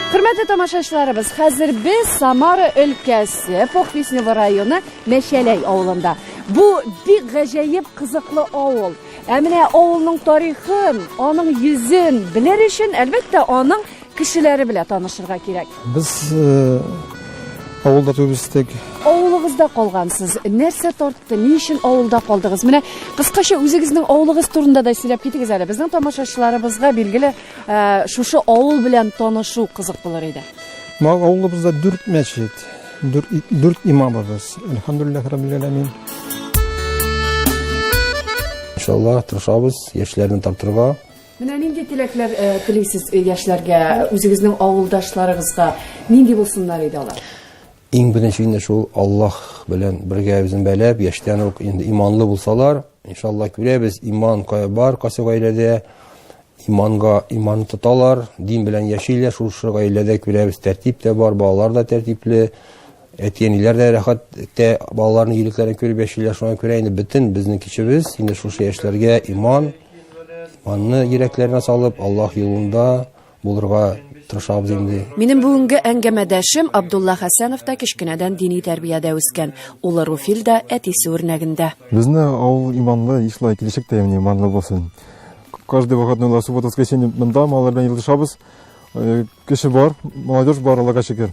Хөрмәтле тамашачыларыбыз, хәзер без Самара өлкәсе Похвистнево районы Мәшәләй авылында. Бу бик гаҗәеп кызыклы авыл. Ә менә авылның тарихын, аның йөзен белер өчен, әлбәттә, аның Кешеләре белә танышырга кирәк. Без авылда туып үстек. Авылыгызда калгансыз. Нәрсә тартты? Ни өчен авылда калдыгыз? Менә кыскача үзегезнең авылыгыз турында да сөйләп китегез әле. Безнең тамашачыларыбызга билгеле, шушы авыл белән танышу кызык булыр иде. Ма авылыбызда дүрт мәчет, дүрт, дүрт имамыбыз. Әлхәмдулиллаһ раббил аламин. Иншаллаһ, тырышабыз яшьләрне тартырга. Менә нинди теләкләр телисез яшьләргә, үзегезнең авылдашларыгызга? Нинди булсыннар иде алар? Иң беренче инде шул Аллаһ белән бергә үзен бәләп, яшьтән үк инде иманлы булсалар, иншалла күрәбез, иман кая бар, кайсы гаиләдә иманга иман тоталар, дин белән яшиләр, шушы гаиләдә күрәбез, тәртип тә бар, балалар да тәртипле. Әти-әниләр дә рәхәт итә, балаларның егетләрен күреп яшиләр. Шуңа күрә инде бөтен безнең кешебез инде шушы яшьләргә иман, иманны йөрәкләренә салып, Аллаһ юлында булырга тырышабыз инде. Минем бүгенге әңгәмәдәшем Абдулла Хәсәнов та кечкенәдән дини тәрбиядә үскән. Улы Руфил дә әтисе үрнәгендә. Безне авыл иманлы, ишла килешек тә имни иманлы булсын. Каждый вакытны ла суббота воскресенье монда маллар белән елдышабыз. Кеше бар, молодежь бар, Аллага шөкер.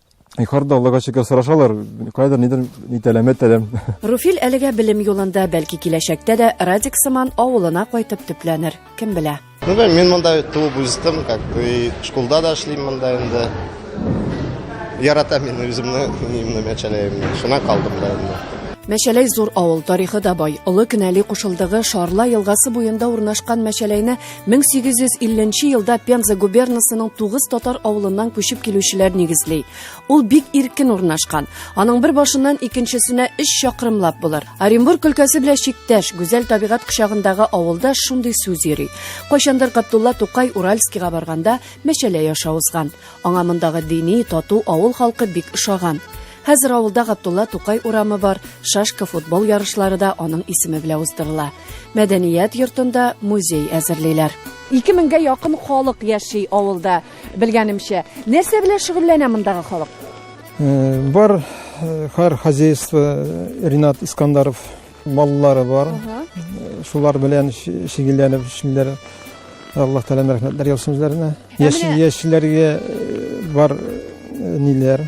Югарыда Аллага шөкер сорашалар, кайдыр нидер нитәләмә тәләм. Руфил әлегә белем юлында, бәлки киләчәктә дә Радик сыман авылына кайтып төпләнер, кем белә. Ну да мин монда туып үстем, как бы школда да эшлим монда инде. Яратам мин үземне, минемне мәчәләемне. Шуна калдым да инде. Мәчәләй зур авыл, тарихы да бай. Олы Кенәли кушылдыгы Шарла елгасы буенда урнашкан Мәчәләйне 1850 нче елда Пенза губернасының тугыз татар авылыннан күчеп килүчеләр нигезли. Ул бик иркен урнашкан. Аның бер башыннан икенчесенә 3 чакрымлап булыр. Оренбург өлкәсе белән чиктәш, гүзәл табигать кочагындагы авылда шундый сүз йөри. Кайчандыр Габдулла Тукай Уральскига барганда мәчәлә яша узган. Аңа мондагы дини, тату авыл халкы бик ошаган. Хәзер авылда Габдулла Тукай урамы бар, шашка футбол ярышлары да аның исеме белән уздырыла. Мәдәният йортында музей әзерлиләр. 2000гә якын халык яши авылда, белгәнемчә. Нәрсә белән шөгыльләнә мондагы халык? Э, бар э, хар хозяйство э, Ринат Искандаров маллары бар. Шулар белән шөгыльләнеп эшлиләр. Алла Тәгалә рәхмәтләр яусын үзләренә. Яшь яшьләргә бар ниләр?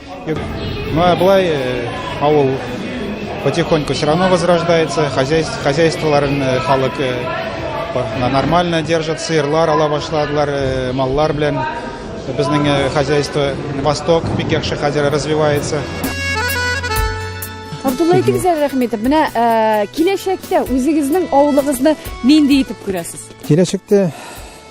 Ну, а былай э, авыл потихоньку все равно возрождается, хозяйство, хозяйстволарын э, халык э, нормально держат, сыерлар ала башладылар, э, маллар белән безнең э, хозяйство Восток бик яхшы хәзер развивается. Абдулла әйтегез әле рәхмәт. Менә э, киләчәктә үзегезнең авылыгызны нинди итеп күрәсез? Киләчәктә